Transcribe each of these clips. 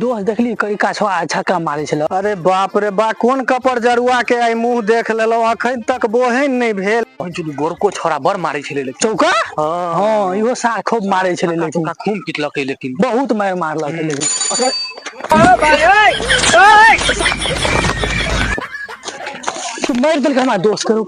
दोस्त देखली कई काछो आ छक्का मारे छलो अरे बाप रे बा कोन कपर जरुआ के आइ मुंह देख लेलो अखन तक बोहन नहीं भेल पंचुली गोरको छोरा बड़ मारे छले लेकिन चौका हाँ। हाँ इहो सार खूब मारे छले लेकिन चौका खून पिटलक है लेकिन बहुत मार मारलक है लेकिन तो मार देलक हमार दोस्त करू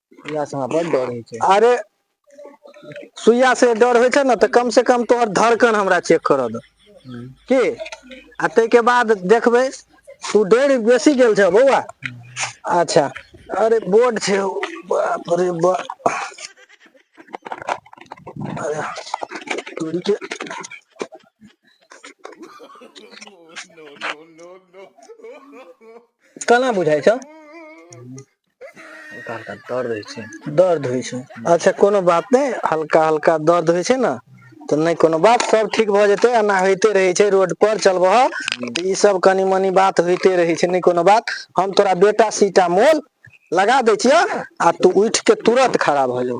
सुइया सँ हमरा बड डर होइ छै अरे सुइया से डर होइ छै ने तऽ कम से कम तोहर धड़कन हमरा चेक करऽ दऽ हूँ, की आ ताहिके बाद देखबै तू डरि बेसी गेल छह बौआ अच्छा अरे बोर्ड छै हौ, बाप रे बा अरे तोरी के केना बुझाइ छौ हल्का हल्का दर्द होइ छै दर्द होइ छै अच्छा कोनो बात नहि हल्का हल्का दर्द होइ छै ने तऽ नहि कोनो बात सब ठीक भऽ जेतै एना होइते रहै छै रोड पर चलबह तऽ ई सब कनी मनी बात होइते रहै छै नहि कोनो बात हम तोरा बेटा सीटा मोल लगा दै छियह आ तू उठि के तुरंत खड़ा भऽ जो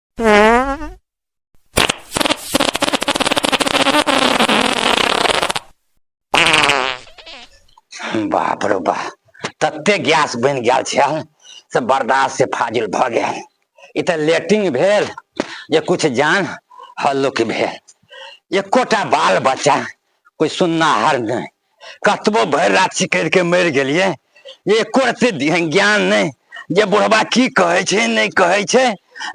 बाप रे बा तते गैस बन गया छे से बर्दाश्त से फाजिल भ गया इत लेटिंग भेल जे कुछ जान हल्लुक भेल एकोटा बाल बच्चा कोई सुननाहर नहीं कतबो भरि राति सिकरि के मरि गेलियै एको रत्ती ध्यान- ज्ञान नहि जे बुढ़बा की कहै छै नहि कहै छै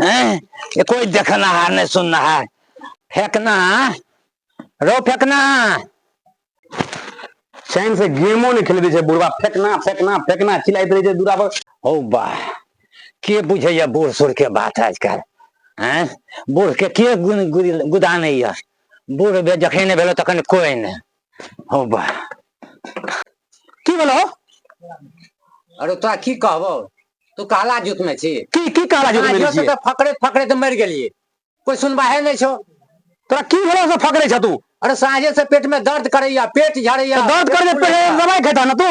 ऐं? ये कोई देखनाहार नहि सुननाहार फेकना रो फेकना चैन से गेमो नहि खेले दै छै बुढ़वा फेकना फेकना फेकना चिल्लाइत रहै छै दूरा पर हौ बा के बुझैया बूढ़ सूढ़ के बात आजकल हैं बूढ़ के के गुन- गुद- गुदानैया बूढ़ बे- जखन नहि भेलो तखन कोई नहि हौ बा की भेलौ अरे तोरा की कहबो तू काला जुत में छी की की काला जुत में छी तो फकरे फकरे तो मर गेलिए कोई सुनबाहे नहीं छो तोरा की भेलौ से फकरे छ तू अरे साँझे से पेट में दर्द करैया पेट झड़ैया तो दर्द कर पेट दवाई खेता ना तू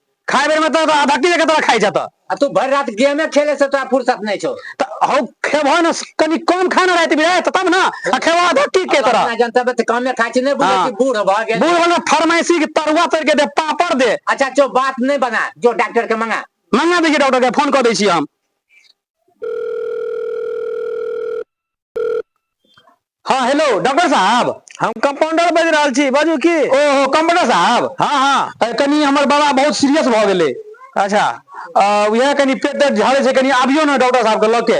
खाए बेर में तो तो आधा किलो के तरह खाई जाता आ तू भर रात गेमे खेले से तोरा फुर्सत नहीं छो तो हो खेबो ना कनी कम खाना रहते भी रहते तब ना आ खेबो आधा की के तरह अपना जनता बे काम में खाची नहीं बुझे हाँ। कि बूढ़ भ गेल बूढ़ वाला फरमाइशी के तरुआ तर के दे पापड़ दे अच्छा जो बात नहीं बना जो डॉक्टर के मंगा मंगा दीजिए डॉक्टर के फोन कर दी हम हाँ हेलो डॉक्टर साहब हम कंपाउंडर बज रहल छी बाजू की ओ हो कंपाउंडर साहब हाँ हाँ कनी हमर बाबा बहुत सीरियस भ गेले अच्छा वह कनी पेट दर्द झाड़े से कनी आबियो ना डॉक्टर साहब के लके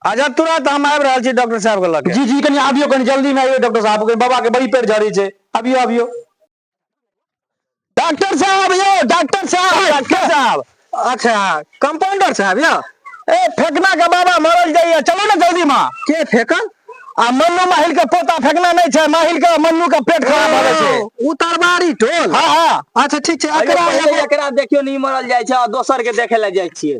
अच्छा तुरंत हम आबि रहल छी डॉक्टर साहब के लके जी जी कनी आबियो कनी जल्दी में आइयो डॉक्टर साहब के बाबा के बड़ी पेट झाड़ी छै आबियो आबियो डॉक्टर साहब यौ डॉक्टर साहब डॉक्टर साहब अच्छा कंपाउंडर साहब यौ ए फेकना के बाबा मरल जाइए चलो ना जल्दी माँ के फेकन आ मन्नू माहिल के पोता फेकना नहीं छै माहिल के मन्नू के पेट खराब भऽ गेल छै उ तरबारी टोल हाँ हाँ अच्छा ठीक छै अइयो एकरा पहिले एगो- एकरा देखियो नहीं मरल जाय छै और दोसर के देखे ले जाय छियै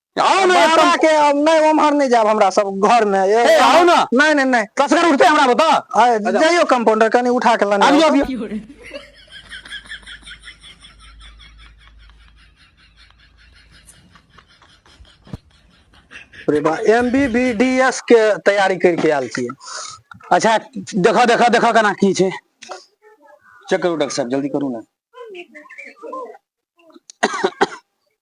आओ ना बाबा एकदम के अब नहीं उम्हर नहीं जाब हमरा सब घर में ए, ए, आओ ना। नहीं नहीं नहीं कसगर उठते हमरा बता आए, जाइयो कंपाउंडर कनी उठा के लाने आबियो आबियो अरे बा एमबीबीडीएस के तैयारी करके आयल छियै अच्छा देखो देखो देखो केना की छै चेक करू डॉक्टर साहब जल्दी करू ना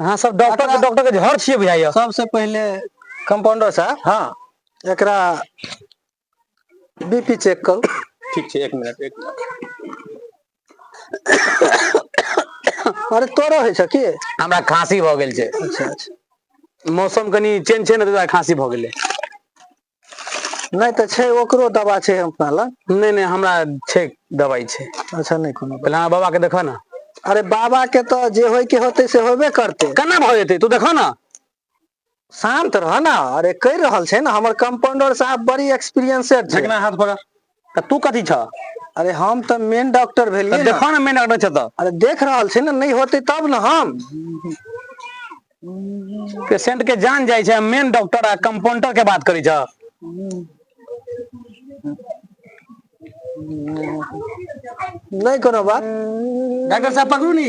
अहाँ सब डॉक्टर एकरा- के डॉक्टर के घर छियै बुझाइया सबसे पहिले कंपाउंडर साहब हाँ एकरा बीपी चेक करू ठीक छै एक मिनट एक मिनट अरे तोरो होइ छ की हमरा खांसी भऽ गेल छै अच्छा अच्छा मौसम कनि चेंज छै ने ताहि दुआरे खांसी भऽ गेलै नहि तऽ छै ओकरो दवा छै अपना लग नहि नहि हमरा छै दवाइ छै अच्छा नहि कोनो बात। पहिले अहाँ बाबाके देखऽ ने अरे बाबा के तऽ जे होय के होते से होबे करते केना भऽ जेतै तू देखऽ ने शांत रह ना अरे कहि रहल छै ना हमर कंपाउंडर साहब बड़ी एक्सपीरियंसेड छै जकना हाथ पकड़ तऽ तू कथी छ अरे हम तऽ मेन डॉक्टर भेलियै तऽ देखो ने मेन डॉक्टर छ तऽ अरे देख रहल छी ने नहि होते तब ने हम पेशेंट के जान जाइ छै मेन डॉक्टर आ कंपाउंडर के बात करी छ नहि कोनो बात डॉक्टर साहब पकड़ू नी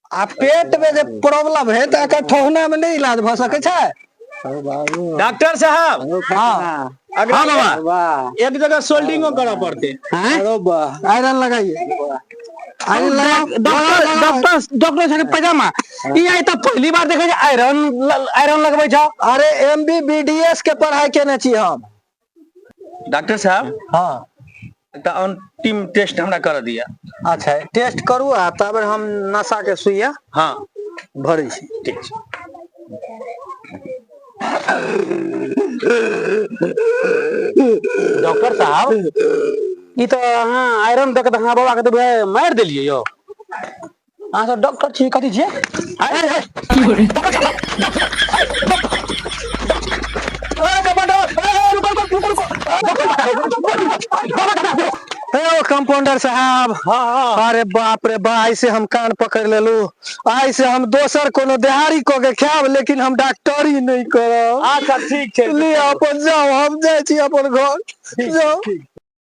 आ पेट में जे प्रॉब्लम है तो एकर ठहना में नहीं इलाज भ सके छै डॉक्टर साहब हाँ अगर हाँ बाबा वाह एक जगह सोल्डिंगो करऽ पड़ते हैं अरे वाह आयरन लगाइए आयरन लगाओ डॉक्टर डॉक्टर डॉक्टर साहब के पैजामा ई आइ तऽ पहली बार देखै छै आयरन आयरन लगबै छौ अरे M B B D S के पढ़ाई केने छी हम डॉक्टर साहब हँ एकटा अंतिम टेस्ट हमरा कर दिया अच्छा टेस्ट करू आ तब हम नशा के सुइया हाँ भरै छी ठीक छै डॉक्टर साहब ई तो अहाँ आयरन देख के अहाँ बाबा के तो मारि देलियै यौ अहाँ सब डॉक्टर छी कथी छियै आँय रे की बोल हेयौ कम्पाउंडर साहेब हँ हँ अरे बाप रे बा आइ से हम कान पकड़ लेलु आइ से हम दोसर कोनो देहाड़ी कऽ के खायब लेकिन हम डॉक्टरी नहि करब अच्छा ठीक छै लिअ अपन जाउ हम जाइ छी अपन घर ठीक जाउ ठीक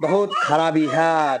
बहुत खराबी हएत